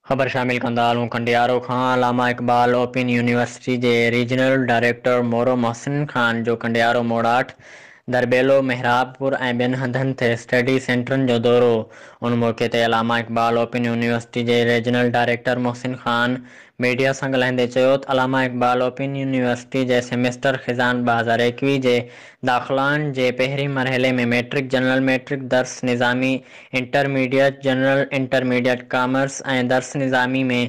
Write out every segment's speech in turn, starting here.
خبر شامل ڪندا هلون ڪنڊيارو کان علامه اقبال اوپن يونيورسٽي جي ريجنل ڊائريڪٽر مورو محسن خان جو ڪنڊيارو موڙاٺ، درٻيلو، محرابپور ۽ ٻين هنڌن تي اسٽڊي سينٽرن جو دورو، ان موقعي تي علامه اقبال اوپن يونيورسٽي جي regional director Mohsin Khan media سان ڳالهائيندي چيوته علامه اقبال اوپن يونيورسٽي جي سيميسٽر خزان ٻه هزار ايڪويهه جي داخلائن جي پهرين مرحلي ۾ مئٽرڪ، جنرل مئٽرڪ، درس نظامي، انٽرميڊيٽ، جنرل انٽرميڊيٽ، ڪامرس ۽ درس نظامي ۾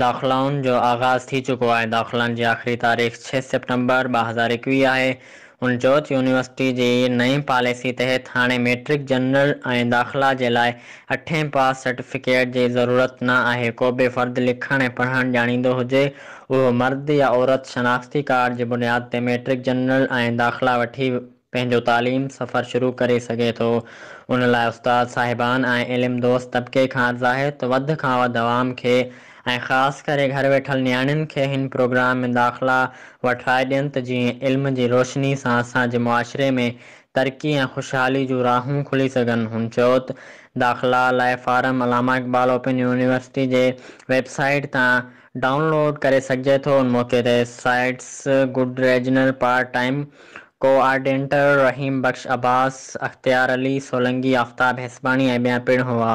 داخلائن جو آغاز ٿي چڪو آهي، داخلائن جي آخري تاريخ ڇهه سيپٽمبر ٻه هزار ايڪويهه آهي. هن چيو ته يونيورسٽي جي نئين پاليسي تحت هاڻي مئٽرڪ، جنرل ۽ داخلا جي لاء اٺين پاس سرٽيفڪيٽ جي ضرورت نه آهي، ڪو به فرد لکڻ ۽ پڙهڻ ڄاڻيندو هجي، اهو مرد يا عورت شناختي ڪارڊ جي بنياد تي مئٽرڪ جنرل ۽ داخلا وٺي پنهنجو تعليم سفر شروع ڪري سگهي ٿو، ان لاء استاد صاحبان ۽ علم دوست طبقي کان عرض آهي ته وڌ کان وڌ عوام کي ۽ خاص ڪري گهر ويٺل نياڻين کي هن پروگرام ۾ داخلا وٺرائي ڏين ته جيئن علم جي روشني سان اسان جي معاشري ۾ ترقي ۽ خوشحالي جون راهون کلي سگهن. هن چيو ته داخلا لاء form Allama Iqbal Open University جي ويب سائيٽ تان ڊائون لوڊ ڪري سگهجي ٿو. ان موقعي تي سائيٽس گڊ regional part time coordinator Rahim Bakhsh Abbas, Ikhtiar Ali Solangi, آفتاب هيسباڻي ۽ ٻيا پڻ هئا.